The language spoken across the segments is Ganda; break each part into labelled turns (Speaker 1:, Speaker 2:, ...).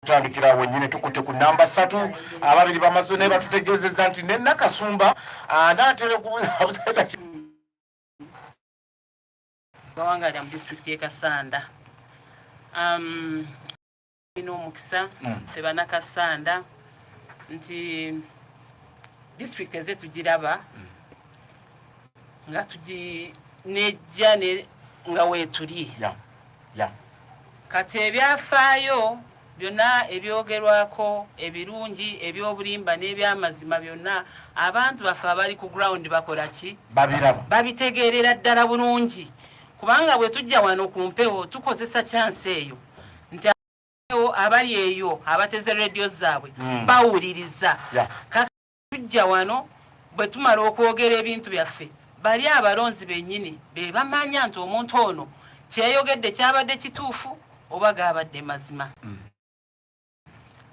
Speaker 1: tutandikira awo nyine tukutte ku namba satu ababiri bamaze naye batutegeezeza nti ne nakasumba anaatera okubuzabuzaga
Speaker 2: bawangalira mu disitulikiti e kasanda um, ina omukisa hmm. ffe banakasanda nti disitulikiti eze tugiraba hmm. nga tuginejja nga weetuli kati ebyafaayo byonna ebyogerwako ebirungi ebyobulimba n'ebyamazima byonna abantu baffe abali ku ground bakola ki babitegeerera ddala bulungi kubanga bwe tujja wano ku mpewo tukozesa kyansi eyo nti abali eyo abateze rediyo zaabwe hmm. bawuliriza tujja wano bwe tumala okwogera ebintu byaffe bali abalonzi bennyini be bamanya nti omuntu ono kyeyogedde kyabadde kituufu oba gaabadde mazima mm.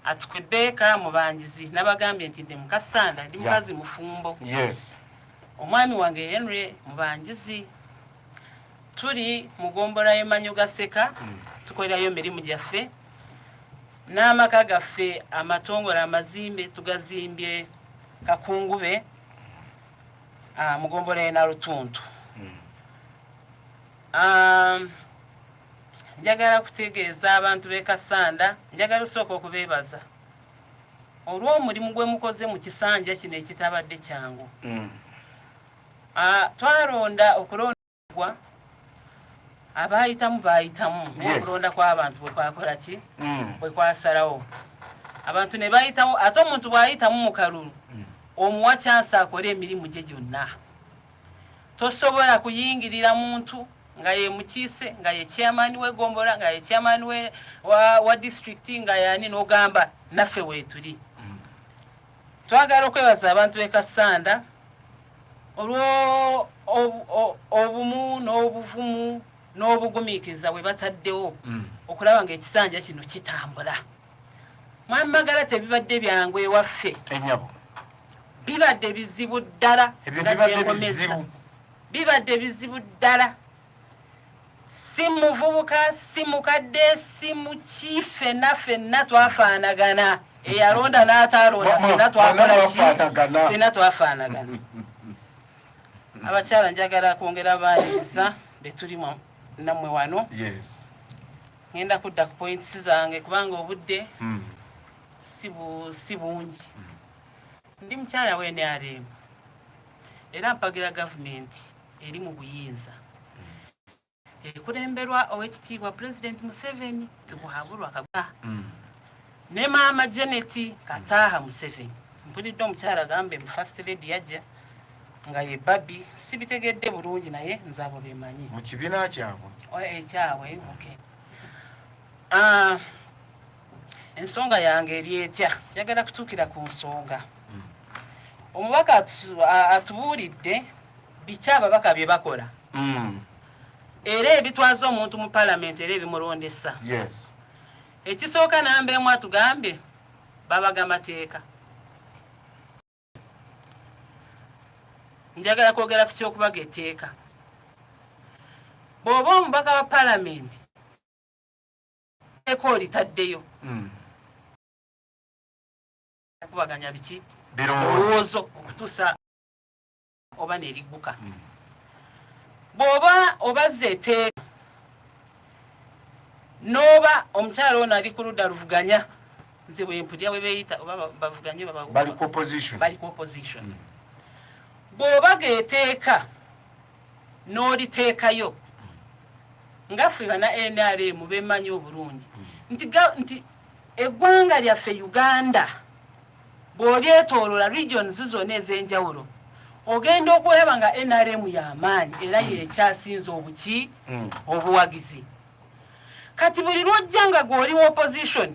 Speaker 2: atukwebbeeka mubangizi nabagambye nti ndi mukasanda ndi mukazi mufumbo omwami wange henry mubangizi tuli mugombolayo manyo gaseka mm. tukolerayo emirimu gyaffe n'amaka gaffe amatongole amazimbe tugazimbye kakungube ah, mugombola ena lutuntu hmm. ah, njagala kutegeeza abantu b'ekasanda njagala osooka okubeebaza olw'omulimu gwe mukoze mu kisanja kino ekitabadde kyangu hmm. ah, twalonda okulonda gwa abaayitamu baayitamu okulonda kw'abantu bwe kwakola ki mm. bwe kwasalawo abantu ne bayitamu ate omuntu bw'ayitamu mu kalulu mm. omuwa kyansi akole emirimu gye gyonna tosobola kuyingirira muntu nga ye mukiise nga ye chairman we gombola nga ye chairman we wa, wa district nga yani nogamba naffe wetuli mm. Twagala okwebaza abantu b'e Kassanda olw'obumu n'obuvumu n'obugumiikiriza bwe bataddewo mm. okulaba ng'ekisanja kino kitambula mwamagala tebibadde byangu ewaffe enyabo bibadde bizibu ddala bibadde bizibu ddala si muvubuka si mukadde si muki fenna fenna twafaanagana eyalonda n'ataalonda fenna twakola ki fenna twafaanagana abakyala njagala kwongera baaniriza betuli nammwe wano ŋenda kudda ku points zange kubanga obudde hmm. si bungi hmm. ndi mukyala wenrm era mpagira gavumenti eri mu buyinza ekulemberwa owekitiibwa pulezidenti museveni tikuhabulwa kagwa mm. ne maama janet kataaha museveni mpulidde omukyala agambe mu first lady yajja nga ye babi sibitegedde bulungi naye nze abo bemanyi mu kibiina kyabwe
Speaker 1: ekyabwe eh,
Speaker 2: okay. uh, ensonga yange eri etya njagala kutuukira ku nsonga hmm. omubaka atubuulidde biki ababaka bye bakola hmm. era ebitwaza omuntu mu palamenti era ebimulondesa ekisooka namba emu atugambye babaga mateeka njagala kwogera ku kyokubaga etteeka bw'oba omubaka wa palamenti eko olitaddeyo hmm. kubaganya biki birowoozo okutusa oba nerigguka hmm. bwoba obazza eteeka noba omukyala ono ali ku ludda luvuganya nze bwempulira bwebeyita oba bavuganye bali
Speaker 1: ku opposition hmm.
Speaker 2: bwoba geteeka n'oliteekayo nga ffe bana nrm bemanyi obulungi nti nti eggwanga lyaffe uganda bw'olyetoolola regions zona ez'enjawulo ogenda okulaba nga nrm y'amaanyi era mm. yekyasinze obuki mm. obuwagizi kati buli lwojja nga gw'oli mu opposition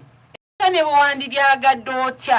Speaker 2: era ne bwewandilyagadde otya